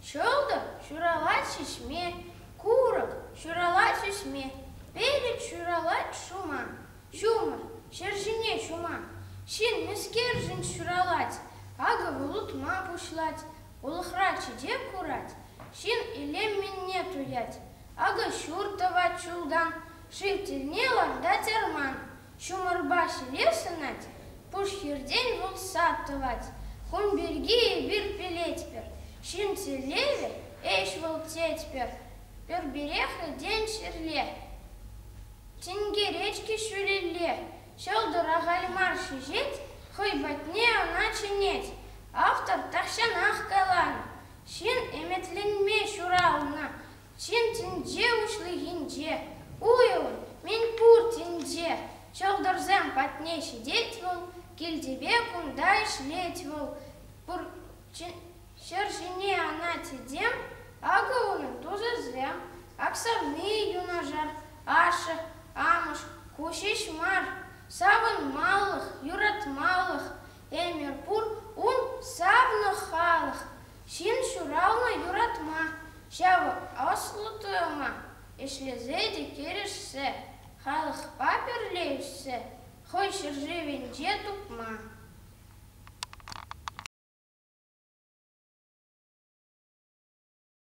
Ҫӑлтӑр ҫуралать ҫиҫме, курӑк ҫуралать ҫиҫме, перӗт ҫуралать шума. Ҫумӑр ҫӗр ҫине ҫума, ҫын мӗскершӗн ҫуралать, акӑ вӑл утма пуҫлать, улӑхра чечек хурать, ҫын илемменне туять, акӑ ҫур тӑвать ҫултан, Шӳт тӗлне лавкка-тӑрман ҫумӑрпа ҫӗле сӑнать, пуш хиртен вулса тӑвать. Кун пирки эпир пӗлетпӗр, ҫын тӗллевӗ, ӗҫ вӑл тетпӗр. Пӗр перехлӗ тен ҫӗрле, тинкерет-ҫке ҫӳлелле. Ҫӑлтӑра халь мар ҫиҫет, хӑй патне ӑна чӗнет. Автор тахҫанах каланӑ, ҫын ӗмӗтленме ҫуралнӑ, Ҫын тӗнче уҫлӑхӗнче уйрӑм мӗнпур тӗнче ҫӑлтӑрсем патне ҫитет вӑл, килтипе кунта ӗҫлет вӑл. Пур ҫӗр ҫине ана тӗтем, акӑ унӑн тусӗсем, аксанни, юнашар ашшӗ, амӑш, ку ҫеҫ мар, савӑнмалӑх, юратмалӑх ӗмӗр пур ун савнӑ халӑх. ҫын ҫуралнӑ юратма, ҫав аслӑ тӑма ӗҫлесе те кӗрешсе, халӑхпа пӗрлешсе хӑй ҫӗршывӗнче тупма.